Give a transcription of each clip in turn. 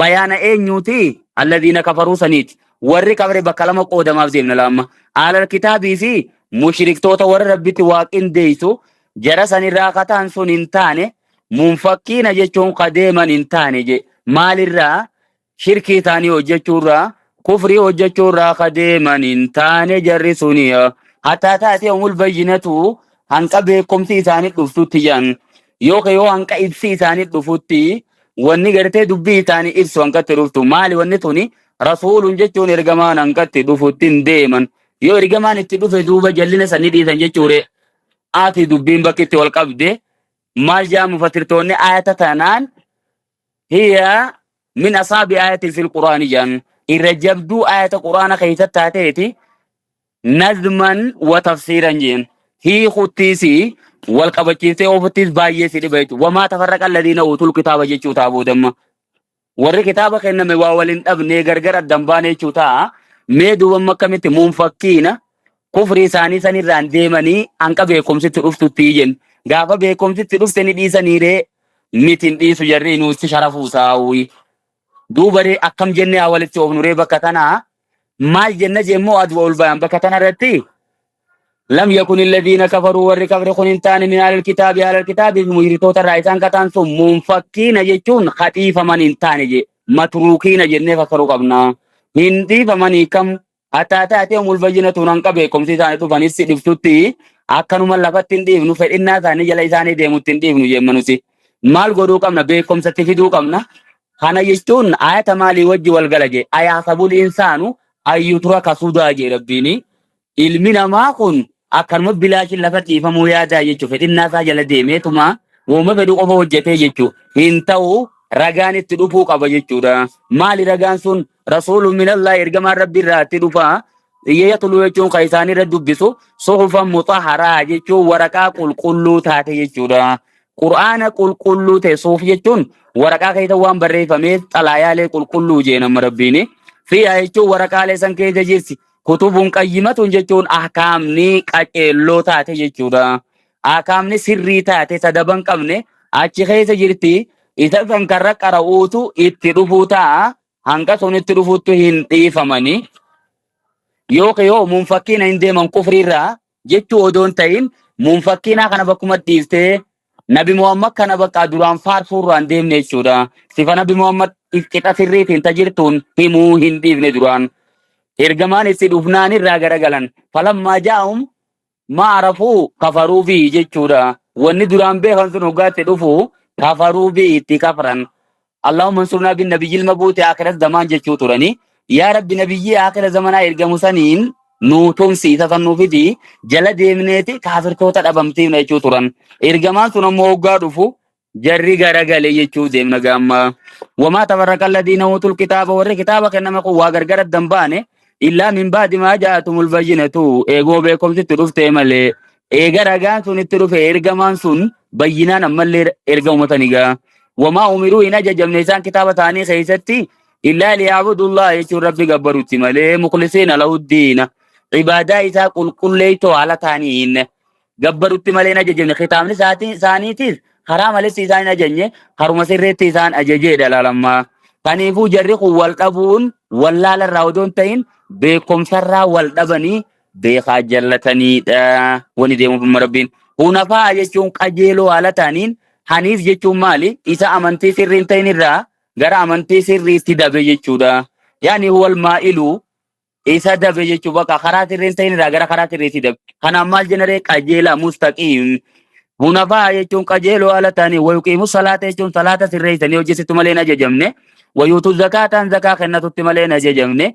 bayaana eenyuuti alladiina kafaruu saniiti warri kafare bakka lama qoodamaaf deemna laamma aalal kitaabii fi mushriktoota warra rabbitti waa qindeeysu jara sanirraa kataan sun hin taane munfakkiina jechuun ka deeman hin taane je maalirraa shirkii taanii hojjechuurraa kufrii hojjechuurraa ka deeman hin taane jarri suni hataa taatee umul bayyinatu hanqa beekumsi isaanii dhuftutti jedhan Yookiin yoo hanqa ibsi isaanii dhufutti wanni gartee dubbii isaanii ibsu hanqatti dhuftu maali wanni tuni rasuulun jechuun ergamaan hanqatti dhufutti hin deeman yoo ergamaan itti dhufe duuba jallina sanni dhiisan jechuure ati dubbiin bakkitti wal qabde maal jaa mufatirtoonni ayata tanaan hiya min asaabi ayatin fil quraani jaan irra jabduu ayata quraana keessatti taateeti nazman wa tafsiiran jeen hiikuttiis wal qabachiistee oofuttiis baay'ee si dhiba jechuudha. Wamaa tafarraqa alladiina uutul kitaaba jechuu ta'a boodamma. Warri kitaaba kenname waa wal hin dhabnee gargar adda hin baane jechuu ta'a. Mee duubamma akkamitti munfakkiina kufrii isaanii sanirraan deemanii hanqa beekumsitti dhuftutti jennu. Gaafa beekumsitti dhufte ni dhiisaniiree miti hin dhiisu jarri nuutti sharafuu taa'uuyi. Duubaree akkam jennee haa walitti oofnuree bakka tanaa maal jenna jemmoo adwa ol bayan bakka tana irratti lam yakun illadiina kafaruu warri kafre kun hin taane min alal kitaabi alal kitaabi mushriktoota irraa isaan kataan sun munfakkiina jechuun kadhiifaman hin taane je matruukiina jennee fassaruu qabna hin dhiifamanii kam hataa taatee umul bayyina tuun hanga beekumsi isaanii dhufanis si dhibsutti akkanuma lafatti hin dhiifnu fedhinnaa isaanii jala isaanii deemutti hin dhiifnu jemmanusi maal godhuu qabna beekumsatti fiduu qabna Kana jechuun ayata maalii wajji wal gala jee ayaasabul insaanu ayyutura kasudaa jee rabbiini ilmi namaa kun akkanuma bilaashin lafa dhiifamuu yaadaa jechuu fedhinnaa isaa jala deemeetuma wooma fedhu qofa hojjetee jechuu hin ta'u ragaan itti dhufuu qaba jechuudha maali ragaan sun rasuulu minallaa ergamaan rabbi irraa itti dhufa yatulu jechuun kan isaanirra dubbisu suhufan mutaharaa jechuun waraqaa qulqulluu taate jechuudha Qur'aana qulqulluu ta'e suuf jechuun waraqaa keessa waan barreeffameef xalaayaalee qulqulluu jee nama rabbiini. Fiyaa jechuun waraqaalee san keessa jirti. Kutubuun qayyimatun jechuun ahkaamni qaceelloo taate jechuudha. Ahkaamni sirrii taate sadaban qabne achi keessa jirti. Isa san karra qara'uutu itti dhufuu ta'a. Hanga sun itti dhufuuttu hin dhiifamani. Yookiin yoo muun fakkiina hin deeman kufriirraa jechuu odoo hin ta'in munfakkiinaa kana bakkuma dhiiftee Nabi Muhammad kana bakka duraan faarsuu irraa hin deemne jechuudha. Sifa Nabi Muhammad qixa sirriitiin tajirtuun himuu hin dhiifne duraan. Ergamaan itti dhufnaan irraa garagalan. Falammaa jaa'um ma arafuu kafaruu fi jechuudha. Wanni duraan beekan sun hoggaatti dhufu kafaruu fi itti kafran. Allahumma ansurnaa bin nabiyyil mabuuti aakiras zamaan jechuu turanii. Yaa Rabbi nabiyyii aakhira zamanaa ergamu saniin nuu tumsi isa san nuu fidi jala deemneeti kaafirtoota dhabamsiifna jechuu turan. Ergamaan sun ammoo hoggaa dhufu jarri garagale jechuu deemna gaamma. Wamaa tafarraqa alladiina uutul kitaaba warri kitaaba kenname kun waa gargar adda hin baane illaa min baadi maa ja'atumul bayyinatu eegoo beekomsitti dhuftee malee Eega ragaan sun itti dhufe ergamaan sun bayyinaan ammallee erga ummata ni ga'a. Wamaa umiruu hin ajajamne isaan kitaaba ta'anii keessatti illaa liyaabudullaa jechuun rabbi gabbarutti malee muklisiina lahuddiina ibaadaa isaa qulqulleeytoo haala ta'aniin gabbarutti malee hin ajajamne kitaabni isaatii- isaaniitiif karaa maletti isaan hin ajajne haruma sirreetti isaan ajajeedha laalammaa. Kaniifuu jarri kun wal dhabuun wallaala irraa odoo hin ta'in beekumsarraa wal dhabanii beekaa jallataniidha wani deemufimma rabbiin hunafaa jechuun qajeeloo haala ta'aniin haniif jechuun maali isa amantii sirrii hin ta'in irraa gara amantii sirriitti dabe jechuudha yaani huwal maa'ilu isa dabe jechuu bakka karaa sirrii hin ta'in irraa gara karaa sirriitti dabe kanaaf maal jenaree qajeelaa mustaqiim hunafaa jechuun qajeeloo haala ta'anii wayuqiimu salaata jechuun salaata sirreessanii hojjetu malee hin ajajamne wayuutu zakaataan zakaa kennatutti malee hin ajajamne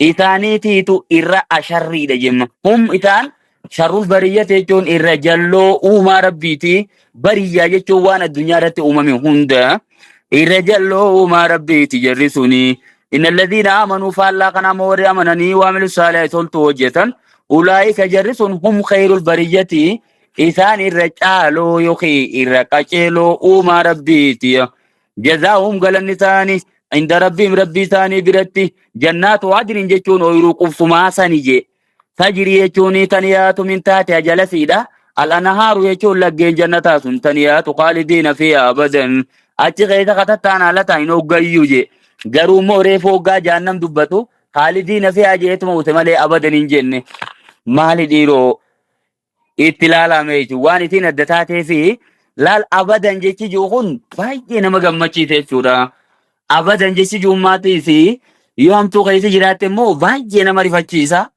isaaniitiitu irra asharriidha jemma. Hum isaan sharrul bariyyate jechuun irra jalloo uumaa rabbiiti. Bariyyaa jechuun waan addunyaa irratti uumame hunda irra jalloo uumaa rabbiiti jarri suni. Inna alladhiina aamanuu faallaa kana ammoo warri amananii waamilu saalihaa toltu hojjetan ulaa'ika jarri sun hum khayrul bariyyati isaan irra caaloo yookiin irra qaceeloo uumaa rabbiiti. jazaahum galanni isaanii inda rabbiim rabbii isaanii biratti jannaatu adnin jechuun ooyiruu qubsumaa sani jee tajrii jechuun tan yaatu min taate ajalasiidha al'anahaaru jechuun laggeen jannataa sun tan yaatu qaalidiina fi abadan achi keessa katattaan haalata hin hoggayyuu jee garuu immoo reefu hoggaa jaannam dubbatu qaalidiina fi ajeetuma ute malee abadan hin jenne maali dhiiroo itti laalame jechuudha. Waan isiin adda taatee fi laal abadan jechi jiru kun baay'ee nama gammachiise jechuudha. Abadan jechi jiru maatii fi yoo hamtuu keessa jiraatte immoo baay'ee nama rifachiisa.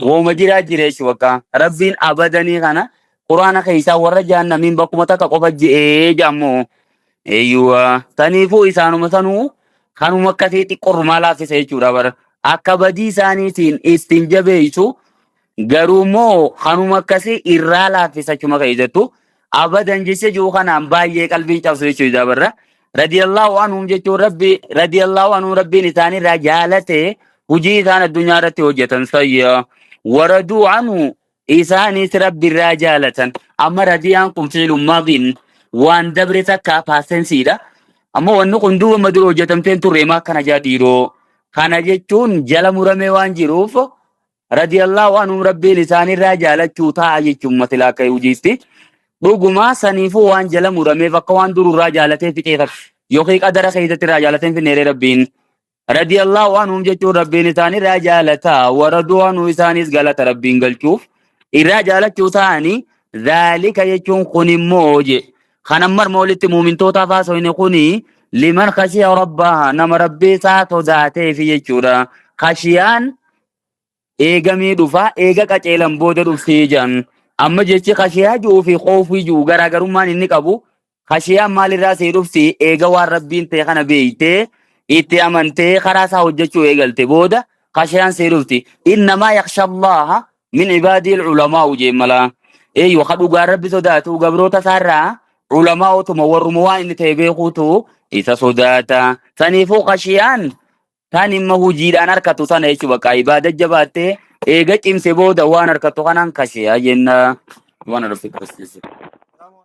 Wooma jiraa jira jechuudha bakka. Rabbiin abadanii kana quraana keessaa warra jaannamiin bakkuma takka qofa je'ee jaammoo. Eeyyuwa. Taniifuu isaanuma sanuu kanuma akkasii xiqqoo rumaa laaffisa jechuudha bara. Akka badii isaaniitiin ittiin jabeessu Garuu immoo kanuma akkasii irraa laaffisa achuma ka'e jettu abadan jecha jiru kanaan baay'ee qalbiin cabsu jechuudha dabarra. Radiyallahu anhum jechuun rabbi radiyallahu anhum rabbiin isaanirraa jaalate hojii isaan addunyaa irratti hojjetan sayya waraduu anhu isaanis rabbirraa jaalatan amma radiyaan kun fiilun maadiin waan dabre takka paasensiidha. Amma wanni kun duuba amma dura hojjetamteen turre maa akkana jaa dhiiroo. Kana jechuun jala muramee waan jiruuf radiyallahu anhum rabbiin isaanirraa jaalachuu ta'a jechuun matilaa akka yuujiitti dhugumaa saniifuu waan jala murameef akka waan dururraa jaalatee fixee takka yookiin qadara keessatti irraa jaalatee hin finneeree rabbiin radiyallahu anhum jechuun rabbiin isaanirraa jaalata waraduu anhu isaanis galata rabbiin galchuuf irraa jaalachuu ta'anii zaalika jechuun kun immoo je kan ammar moolitti muumintootaa faasoyne kuni liman kashiya rabbaa nama rabbii isaa sodaateefi jechuudha kashiyaan eegamee dhufaa eega qaceelan booda dhuftii jedhan amma jechi kashiyaa ji'uu fi koofii ji'u garaagarummaan inni qabu kashiyaan maalirraa see dhufti eega waan rabbiin ta'e kana beeytee itti amantee karaa isaa hojjechuu eegalte booda kashiyaan see dhufti innamaa yakshallaha min ibaadiil ulamaa ujeen malaa eeyyo ka dhugaa rabbi sodaatu gabroota isaarraa ulamaa otuma warruma waan inni ta'e beekuutu isa sodaata saniifuu kashiyaan Tan imma hujiidhaan harkatu tana jechuun bakka ibaada jabaattee eega cimse booda waan harkatu kanaan kashe jenna. Waan arfii